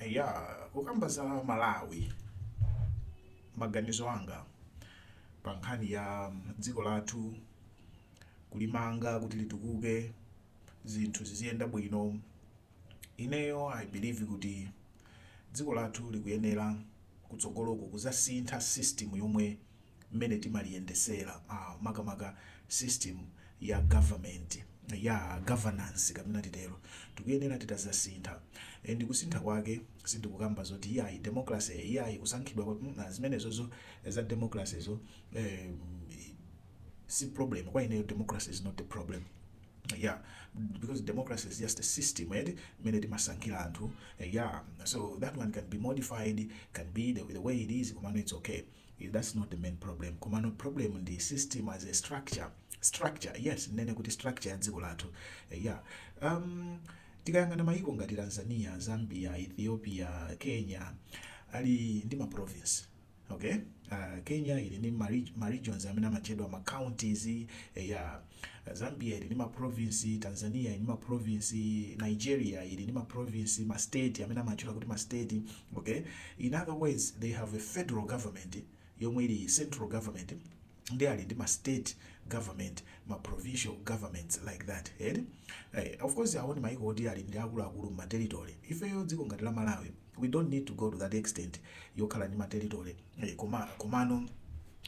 Eya, kukamba za Malawi, maganizo anga pa nkhani ya dziko lathu, kulimanga kuti litukuke, zinthu ziziyenda bwino, ineyo I believe kuti dziko lathu likuyenera kutsogoloko kuzasintha system yomwe mmene timaliyendesela makamaka system ya government yaa governance kapena titelo tikuyenela titazasintha and kusintha kwake sindikukamba zoti iyayi democracy iyayi kusankhidwa kwa mm zimenezozo za democracy zo eeh si problem kwa ineyo democracy is not the problem yaa because democracy is just a system eti mmene timasankhila anthu yaa so that one can be modified can be the way it is komano its okay. that's not the main problem komano problem ndi system as a structure structure yes nene kuti structure ya dziko lathu Eh, yeah um, tikayang'ana mayiko ngati tanzania zambia ethiopia kenya ali ndi ma province okay uh, kenya ili ndi ma reg- ma regions amene amatchedwa ma counties eh, yeah Zambia ili ndi ma province, Tanzania ili ndi ma province, Nigeria ili ndi ma province, ma state amene amatchedwa kuti ma state, okay. In other words, they have a federal government yomwe ili central government and ali ndi ma state government, ma provincial governments like that. Eti? Eh, of course awo ndi maiko oti ali ndi akuluakulu m'ma territory. Ifeyo dziko ngati la Malawi we don't need to go to that extent yokhala ndi ma territory eh, koma komano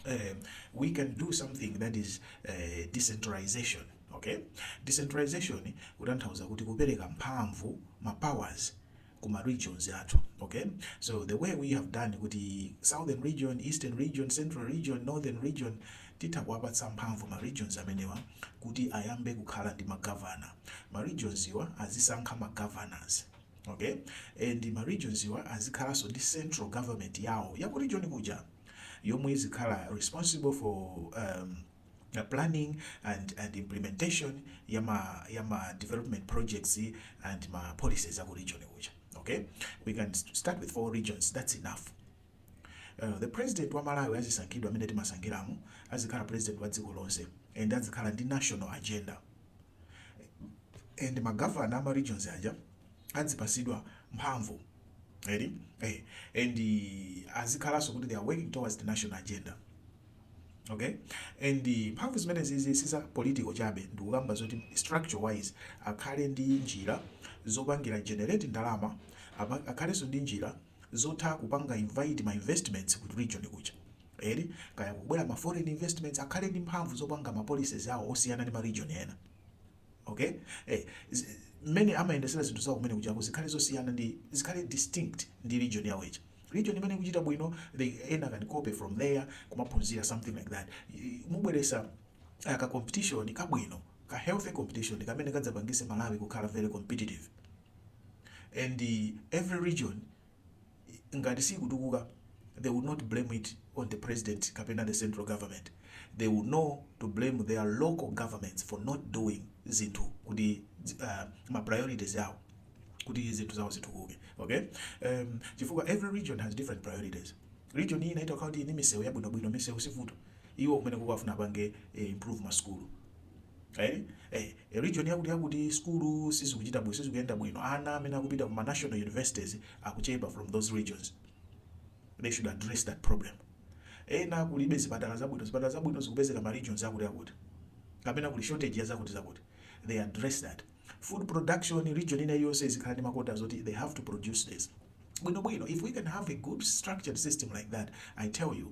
eh, we can do something that is eh, decentralization okay decentralization kutanthauza kuti kupereka mphamvu ma powers kuma regions athu okay so the way we have done kuti southern region eastern region central region northern region titha kuwapatsa mphamvu ma regions amenewa kuti ayambe kukhala ndi magavana ma regions iwa azisankha ma governors Okay and ma regions wa azikhalanso ndi central government yawo ya ku region kuja yomwe izikhala responsible for um, the planning and, and implementation ya ma, ya ma development projects and ma policies aku region kuja okay we can st- start with four regions that's enough Uh, the president wa malawi azisankhidwa mmene timasankhiramo azikhala president wa dziko lonse and azikhala ndi national agenda eh, and magavana ama regions aja adzipasidwa mphamvu eti eh, and azikhalanso kuti they are working towards the national agenda okay and mphamvu zimene zizi siza political chabe ndikukamba zoti structure wise akhale ndi njira zopangira generate ndalama akhalenso ndi njira zotha kupanga invite ma investments ku region kuja eti, kaya kubwera ma foreign investments akhale ndi mphamvu zopanga ma policies awo osiyana ndi ma region ena ok eh, mmene amayendesera zinthu zawo kumene kujako zikhale zosiyana ndi zikhale distinct ndi region yawo ija region imene ikuchita bwino they ena can copy from there kumaphunzira something like that mubweresa uh, ka competition kabwino ka healthy competition kamene kadzapangise malawi kukhala very competitive and every region ngati sikutukuka they will not blame it on the president kapena the central government they will know to blame their local governments for not doing zinthu kuti uh, ma priorities awo kuti zinthu zawo zitukuke okay um, chifukwa every region has different priorities region iyi inayake ili ndi misewu yabwinobwino misewu sivuto iwo kumeneko akufuna apange eh, improve masukulu Eee ee region yakuti yakuti sukulu sizikuchita bwino sizikuyenda bwino ana amene akupita ku ma national universities akuchepa from those regions they should address that problem. Ena kulibe zipatala zabwino zipatala zabwino zikupezeka ma regions akuti akuti kapena kuli shortage ya zakuti zakuti they address that. Food production region ina iliyonse izikhala ndi ma quotas oti they have to produce this bwino bwino if we can have a good structured system like that I tell you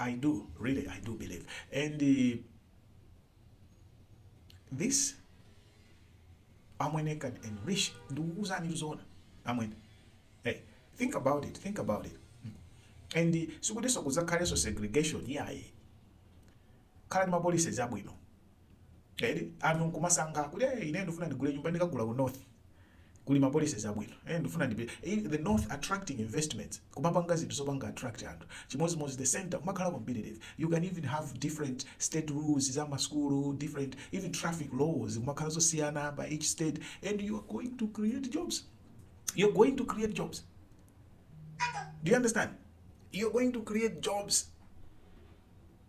I do really I do believe and uh, this amwene can enrich ndikukuuzani kuzoona amwene hey think about it think about it and uh, sikutiso kuzakhalenso segregation yayi khalani mapolicies abwino eti anthu nkumasankha kuti eh, ine ndifuna ndigule nyumba ndikagula ku north kuli ma policies abwino eh, ndifuna ndipi eh, the north attracting investments kumapanga zinthu zopanga attract anthu chimodzimodzi the center kumakhala competitive you can even have different state rules za masukulu different even traffic laws kumakhala zosiyana by each state and you are going to create jobs you're going to create jobs do you understand you're going to create jobs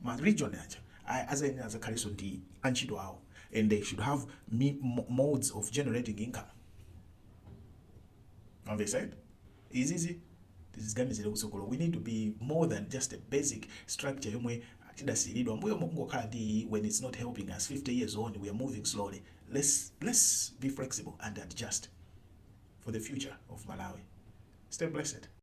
ma region aja azayenera azakhaleso ndi antchito awo and they should have me modes of generating income mwamvesa eti izizi tiziganizira kusogolo we need to be more than just a basic structure yomwe tidasiyiridwa mbuyomu kungokhala ndi when it's not helping us 50 years on we are moving slowly let's, let's be flexible and adjust for the future of malawi stay blessed